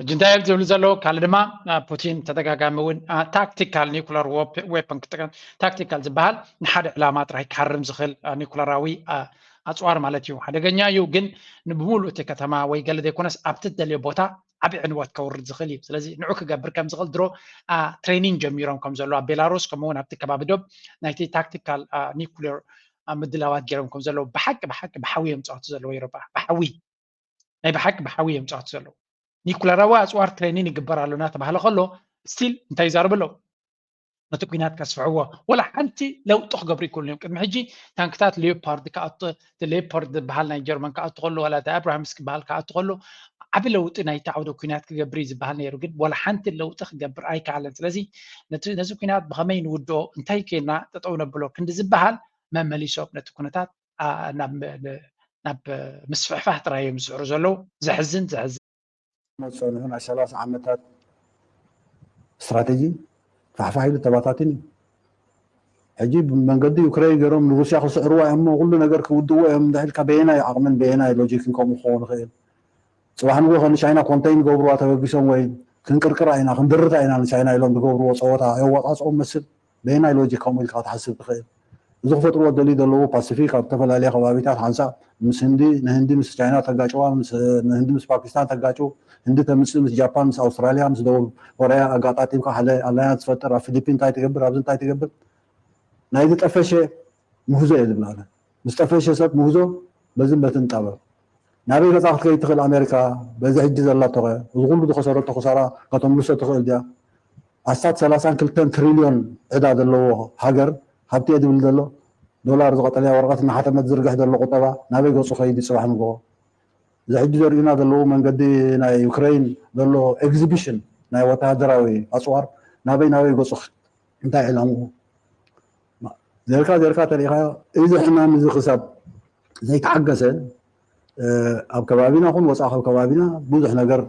[SPEAKER 11] ሕጂ እንታይ እዮም
[SPEAKER 8] ዝብሉ ዘለዉ ካልእ ድማ ፑቲን ተደጋጋሚ እውን ታክቲካል ኒኩለር ዌፐን ክጥቀም ታክቲካል ዝበሃል ንሓደ ዕላማ ጥራይ ክሃርም ዝኽእል ኒኩለራዊ ኣፅዋር ማለት እዩ ሓደገኛ እዩ ግን ንብምሉእ እቲ ከተማ ወይ ገለ ዘይኮነስ ኣብቲ ትደልዮ ቦታ ዓብዪ ዕንወት ከውርድ ዝኽእል እዩ ስለዚ ንዑ ክገብር ከም ዝኽእል ድሮ ትሬኒንግ ጀሚሮም ከም ዘለዉ ኣብ ቤላሩስ ከምኡውን ኣብቲ ከባቢ ዶብ ናይቲ ታክቲካል ኒኩሌር ምድላዋት ገይሮም ከም ዘለዉ ብሓቂ ብሓቂ ብሓዊ እዮም ዝፃወቱ ዘለዉ ኤሮጳ ብሓዊ ናይ ብሓቂ ብሓዊ እዮም ፃወቲ ዘለዉ ኒኩለራዊ ኣፅዋር ትሬኒን ይግበር ኣሎ እናተባሃለ ከሎ ስቲል እንታይ ይዛረቡ ኣለዉ ነቲ ኩናት ከስፍሕዎ ወላ ሓንቲ ለውጢ ክገብሩ ይክእሉ እዮም ቅድሚ ሕጂ ታንክታት ሌፓርድ ክኣቱ ሌፓርድ ዝበሃል ናይ ጀርመን ክኣቱ ከሎ ዋላ እቲ ኣብራሃምስ ክበሃል ክኣቱ ከሎ ዓብ ለውጢ ናይቲ ዓውደ ኩናት ክገብር እዩ ዝበሃል ነይሩ ግን ወላ ሓንቲ ለውጢ ክገብር ኣይከኣለን ስለዚ ነዚ ኩናት ብከመይ ንውድኦ እንታይ ኮይና ጠጠው ነብሎ ክንዲ ዝበሃል መመሊሶም ነቲ ኩነታት ናብ ምስፍሕፋህ ጥራይ እዮም ዝስዕሩ ዘለዉ ዘሕዝን ዘሕዝን። ሞት
[SPEAKER 12] ጸኒሑ ናይ ሰላሳ ዓመታት ስትራተጂ ፋሕፋሕ ኢሉ ተባታቲኑ እዩ። ሕጂ ብመንገዲ ዩክረይን ገይሮም ንሩስያ ክስዕርዋ እዮም እሞ ኩሉ ነገር ክውድእዎ እዮም እንተኢልካ በየናይ ዓቕምን በየናይ ሎጂክን ከምኡ ክኸውን ይኽእል? ጽባሕ ንግሆ ንቻይና ኮንተይን ይገብርዋ ተበጊሶም ወይ ክንቅርቅራ ኢና ክንድርታ ኢና ንቻይና ኢሎም ዝገብርዎ ጸወታ ኣየዋጻጽኦም መስል በየናይ ሎጂክ ከምኡ ኢልካ ክትሓስብ ትኽእል? እዚ ክፈጥርዎ ዝደልዩ ዘለዉ ፓሲፊክ ኣብ ዝተፈላለየ ከባቢታት ሓንሳእ ምስ ህንዲ ንህንዲ ምስ ቻይና ተጋጭዋ ምስ ህንዲ ምስ ፓኪስታን ተጋጩ ህንዲ ተምጽእ ምስ ጃፓን ምስ ኣውስትራልያ ምስ ደቡብ ኮርያ ኣጋጣጢምካ ሓደ ኣላያንስ ትፈጥር ኣብ ፊሊፒን እንታይ ትገብር ኣብዚ እንታይ ትገብር ናይዚ ጠፈሸ ምህዞ እየ ዝብላ እለ ምስ ጠፈሸ ሰብ ምህዞ በዝን በትን ጣበብ ናበይ ነፃ ክትከይድ ትክእል ኣሜሪካ በዚ ሕጂ ዘላቶከ እዚ ኩሉ ዝከሰረቶ ክሳራ ከተምልሶ ትክእል ድያ ኣስታት ሰላሳን ክልተን ትሪልዮን ዕዳ ዘለዎ ሃገር ሃብቲ እየ ዝብል ዘሎ ዶላር እዚ ቀጠልያ ወረቀት እናሓተመ ዝዝርግሕ ዘሎ ቁጠባ ናበይ ገፁ ከይድ እዩ ፅባሕ ንግሆ እዚ ሕጂ ዘርእዩና ዘለዉ መንገዲ ናይ ዩክረይን ዘሎ ኤግዚቢሽን ናይ ወተሃደራዊ ኣፅዋር ናበይ ናበይ ገፁ እንታይ ዕላምኡ ዘርካ ዘርካ ተሪኢኻዮ እዚ ሕማም እዚ ክሳብ ዘይተዓገሰ ኣብ ከባቢና ኹን ወፃእ ካብ ከባቢና ብዙሕ ነገር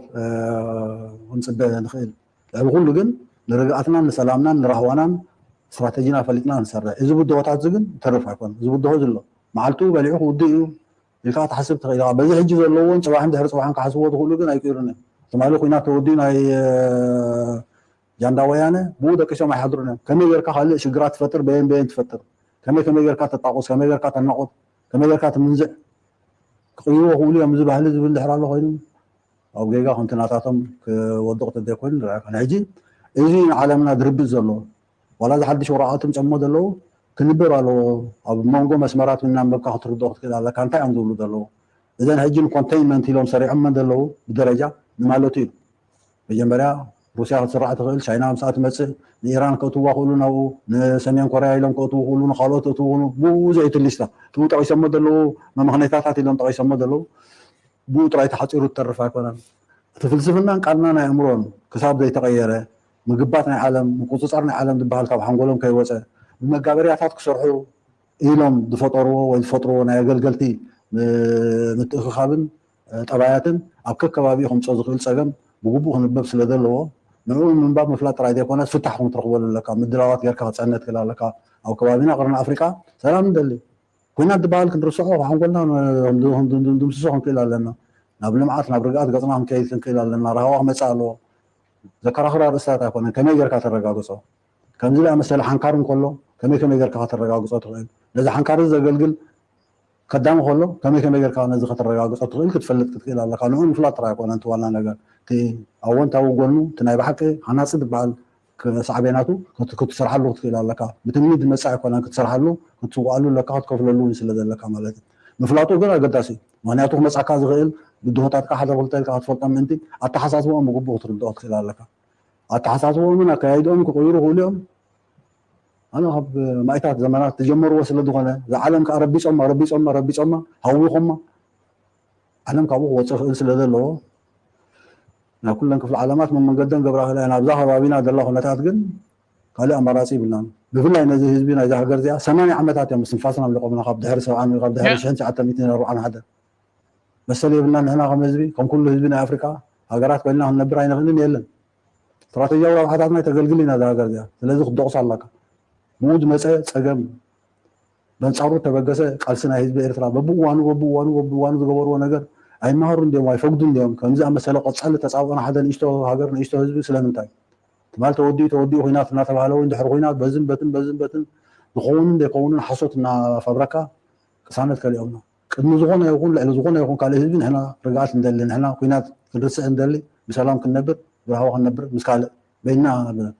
[SPEAKER 12] ክንፅበ ንኽእል ልዕሊ ኩሉ ግን ንርግኣትናን ንሰላምናን ንራህዋናን ስትራተጂና ፈሊጥና ንሰርሕ እዚ ብድሆታት እዚ ግን ተርፍ ኣይኮነ እዚ ብድሆ ዝሎ መዓልቱ በሊዑ ክውድእ እዩ ኢልካ ትሓስብ ትኽእል ኢኻ በዚ ሕጂ ዘለዎን ፅባሕን ድሕሪ ፅባሕን ክሓስብዎ ዝኽእሉ ግን ኣይቅይሩን እዮም ትማሊ ኩናት ተወዲኡ ናይ ጃንዳ ወያነ ብኡ ደቂሶም ኣይሓድሩን እዮም ከመይ ገርካ ካልእ ሽግራት ትፈጥር በየን በየን ትፈጥር ከመይ ከመይ ገርካ ተጣቁስ ከመይ ገርካ ተናቁት ከመይ ገርካ ትምንዝዕ ክቅይርዎ ክብሉ እዮም እዚ ባህሊ ዝብል ድሕር ኣሎ ኮይኑ ኣብ ጌጋ ከምቲ ናታቶም ክወድቕ ተዘይኮይኑ ንርኣካ ናይ ሕጂ እዚ ንዓለምና ድርብፅ ዘሎ ዋላ እዚ ሓድሽ ወረቃቅቲ ጨሞ ዘለዉ ክንበብ ኣለዎ ኣብ መንጎ መስመራት እናንበብካ ክትርድኦ ክትክእል ኣለካ እንታይ እዮም ዝብሉ ዘለዉ እዘን ሕጂ ንኮንቴይንመንት ኢሎም ሰሪዖመን ዘለዉ ብደረጃ ንማለቱ እዩ መጀመርያ ሩስያ ክትስራዕ ትኽእል ቻይና ምስኣ ትመፅእ ንኢራን ከእትዋ ክእሉ ናብኡ ንሰሜን ኮርያ ኢሎም ከእትዉ ክእሉ ንካልኦት እትዉ ክእሉ ብዙሕ እቲ ሊስታ እትዉ ጠቂሶሞ ዘለዉ መምኽኔታታት ኢሎም ጠቂሶሞ ዘለዉ ብኡ ጥራይ ተሓፂሩ ትተርፍ ኣይኮነን እቲ ፍልስፍናን ቃልናን ኣእምሮን ክሳብ ዘይተቐየረ ምግባት ናይ ዓለም ምቁፅፃር ናይ ዓለም ዝበሃል ካብ ሓንጎሎም ከይወፀ ብመጋበርያታት ክሰርሑ ኢሎም ዝፈጠርዎ ወይ ዝፈጥርዎ ናይ ኣገልገልቲ ምትእኽኻብን ጠባያትን ኣብ ከከባቢኡ ከምጽኦ ዝኽእል ጸገም ብግቡእ ክንበብ ስለ ዘለዎ ንዕኡ ምንባብ ምፍላጥ ጥራይ ዘይኮነስ ፍታሕ ውን ክትረኽበሉ ኣለካ ምድላዋት ጌርካ ክትጸንህ ትክእል ኣለካ ኣብ ከባቢና ቅርኒ ኣፍሪቃ ሰላም ንደሊ ኩናት ድበሃል ክንርስዖ ካብ ሓንጎልና ክንድምስሶ ክንክእል ኣለና ናብ ልምዓት ናብ ርግኣት ገጽና ክንከይድ ክንክእል ኣለና ራህዋ ክመጽእ ኣለዎ ዘከራኽር ኣርእስታት ኣይኮነን ከመይ ጌርካ ተረጋግጾ ከምዚ ዝኣመሰለ ሓንካር እንከሎ ከመይ ከመይ ጌርካ ከተረጋግጾ ትኽእል ነዚ ሓንካር እዚ ዘገልግል ከዳሚ ከሎ ከመይ ከመይ ጌርካ ነዚ ከተረጋግጾ ትኽእል ክትፈልጥ ክትክእል ኣለካ ንዑ ምፍላጥ ጥራይ ኣይኮነን እቲ ዋና ነገር እቲ ኣዎንታዊ ጎኑ እቲ ናይ ብሓቂ ሃናጺ ዝበሃል ሳዕቤናቱ ክትሰርሓሉ ክትክእል ኣለካ ብትምኒት ዝመጽእ ኣይኮነን ክትሰርሓሉ ክትስውኣሉ ኣለካ ክትከፍለሉ ውን ስለ ዘለካ ማለት እዩ ምፍላጡ ግን ኣገዳሲ እዩ ምኽንያቱ ክመጽኣካ ዝኽእል ብድሆታትካ ሓደ ክልተ ኢልካ ክትፈልጦም ምእንቲ ኣተሓሳስባኦም ብግቡእ ክትርድኦ ክትክእል ኣለካ ኣተሓሳስባኦምን ኣከያይድኦምን ክቕይሩ ይኽእሉ እዮም ኣነ ካብ ማኢታት ዘመናት ዝጀመርዎ ስለ ዝኾነ እዛ ዓለም ከኣ ረቢጾማ ረቢጾማ ረቢጾማ ሃዊኾማ ዓለም ካብኡ ክወጽእ ክእል ስለ ዘለዎ ናብ ኩለን ክፍለ ዓለማት መመንገደን ገብራ ክእል እየን ኣብዛ ከባቢና ዘላ ኩነታት ግን ካልእ ኣማራጺ ይብልናን ብፍላይ ነዚ ህዝቢ ናይዛ ሃገር እዚኣ ሰማንያ ዓመታት እዮም ስንፋስና ኣምሊቆምና ካብ ድሕሪ ሰብዓን ካብ ድሕሪ ሽሕን ትሽዓተ ሚእትን ኣርብዓን ሓደ መሰል የብልና ንሕና ከም ህዝቢ ከም ኩሉ ህዝቢ ናይ ኣፍሪቃ ሃገራት ኮይንና ክንነብር ኣይንኽእልን የለን ስትራተጂያዊ ረብሓታትና ኣይተገልግልን እያ እዛ ሃገር እዚኣ ስለዚ ክትደቑሳ ኣላካ ብኡ ዝመፀ ፀገም በንፃሩ ተበገሰ ቃልሲ ናይ ህዝቢ ኤርትራ በብእዋኑ በብእዋኑ በብእዋኑ ዝገበርዎ ነገር ኣይመሃሩን ድዮም ኣይፈግዱን ድዮም ከምዚ ኣመሰለ ቆፃሊ ተፃብኦ ንሓደ ንእሽቶ ሃገር ንእሽቶ ህዝቢ ስለምንታይ ትማል ተወዲኡ ተወዲኡ ኩናት እናተባህለ ወይ ድሕሪ ኩናት በዝን በትን በዝን በትን ዝኸውንን ዘይከውንን ሓሶት እናፈብረካ ቅሳነት ከሊኦምና ቅድሚ ዝኾነ ይኹን ልዕሊ ዝኾነ ይኹን ካልእ ህዝቢ ንሕና ርግኣት ንደሊ ንሕና ኩናት ክንርስዕ ንደሊ ብሰላም ክንነብር ብራህዋ ክንነብር ምስ ካልእ በይንና ኢና ንነብር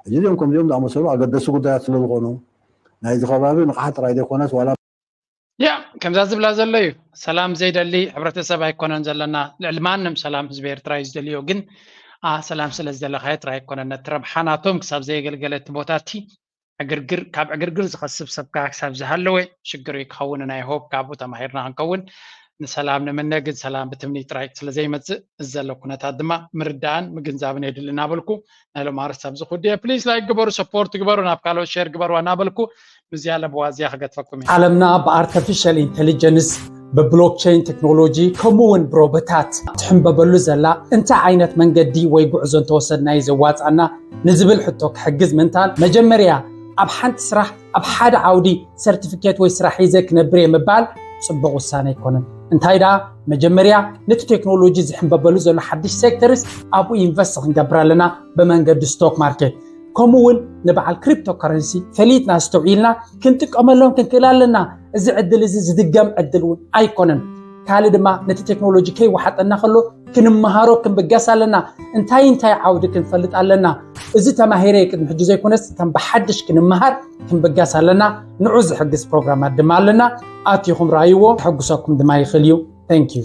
[SPEAKER 12] ሕጂ እዚኦም ከምዚኦም ዝኣመሰሉ ኣገደስቲ ጉዳያት ስለ ዝኾኑ ናይዚ ከባቢ ንቕሓት ጥራይ ዘይኮነስ ዋላ ያእ
[SPEAKER 1] ከምዛ ዝብላ ዘሎ እዩ ሰላም ዘይደሊ ሕብረተሰብ ኣይኮነን ዘለና ልዕሊ ማንም ሰላም ህዝቢ ኤርትራ እዩ ዝደልዮ ግን ሰላም ስለ ዝደለኻዮ ጥራይ ኣይኮነን ነቲ ረብሓ ናቶም ክሳብ ዘየገልገለ እቲ ቦታ እቲ ዕግርግር ካብ ዕግርግር ዝኸስብ ሰብካ ክሳብ ዝሃለወ ሽግር እዩ ክኸውን ናይ ሆፕ ካብኡ ተማሂርና ክንከውን ንሰላም ንምነ ግን ሰላም ብትምኒ ጥራይ ስለዘይመፅእ እዚ ዘሎ ኩነታት ድማ ምርዳእን ምግንዛብን የድሊ እናበልኩ ናይ ሎም ኣርስት ኣብዚ ኩድየ ፕሊስ ላይክ ግበሩ ሰፖርት ግበሩ ናብ ካልኦት ሸር ግበሩ እናበልኩ ምዝያ ለበዋ እዚያ ክገትፈኩም እዩ ዓለምና ብኣርተፊሻል
[SPEAKER 8] ኢንቴሊጀንስ ብብሎክቸይን ቴክኖሎጂ ከምኡ እውን ብሮበታት ትሕንበበሉ ዘላ እንታይ ዓይነት መንገዲ ወይ ጉዕዞ እንተወሰድና እዩ ዘዋፃና ንዝብል ሕቶ ክሕግዝ ምንታን መጀመርያ ኣብ ሓንቲ ስራሕ ኣብ ሓደ ዓውዲ ሰርቲፊኬት ወይ ስራሕ ሒዘ ክነብር እየ ምባል ፅቡቕ ውሳነ ኣይኮነን እንታይ ደኣ መጀመርያ ነቲ ቴክኖሎጂ ዝሕንበበሉ ዘሎ ሓድሽ ሴክተርስ ኣብኡ ኢንቨስት ክንገብር ኣለና ብመንገዲ ስቶክ ማርኬት ከምኡ እውን ንበዓል ክሪፕቶ ከረንሲ ፈሊጥና ኣስተውዒልና ክንጥቀመሎም ክንክእል ኣለና እዚ ዕድል እዚ ዝድገም ዕድል እውን ኣይኮነን። ካልእ ድማ ነቲ ቴክኖሎጂ ከይወሓጠና ከሎ ክንመሃሮ ክንብገስ ኣለና። እንታይ እንታይ ዓውዲ ክንፈልጥ ኣለና? እዚ ተማሂረ ቅድሚ ሕጂ ዘይኮነስ ከም ብሓድሽ ክንመሃር ክንብገስ ኣለና። ንዑ ዝሕግዝ ፕሮግራማት ድማ ኣለና። ኣትኹም ረኣይዎ፣ ክሕጉሰኩም ድማ ይኽእል እዩ። ተንኪዩ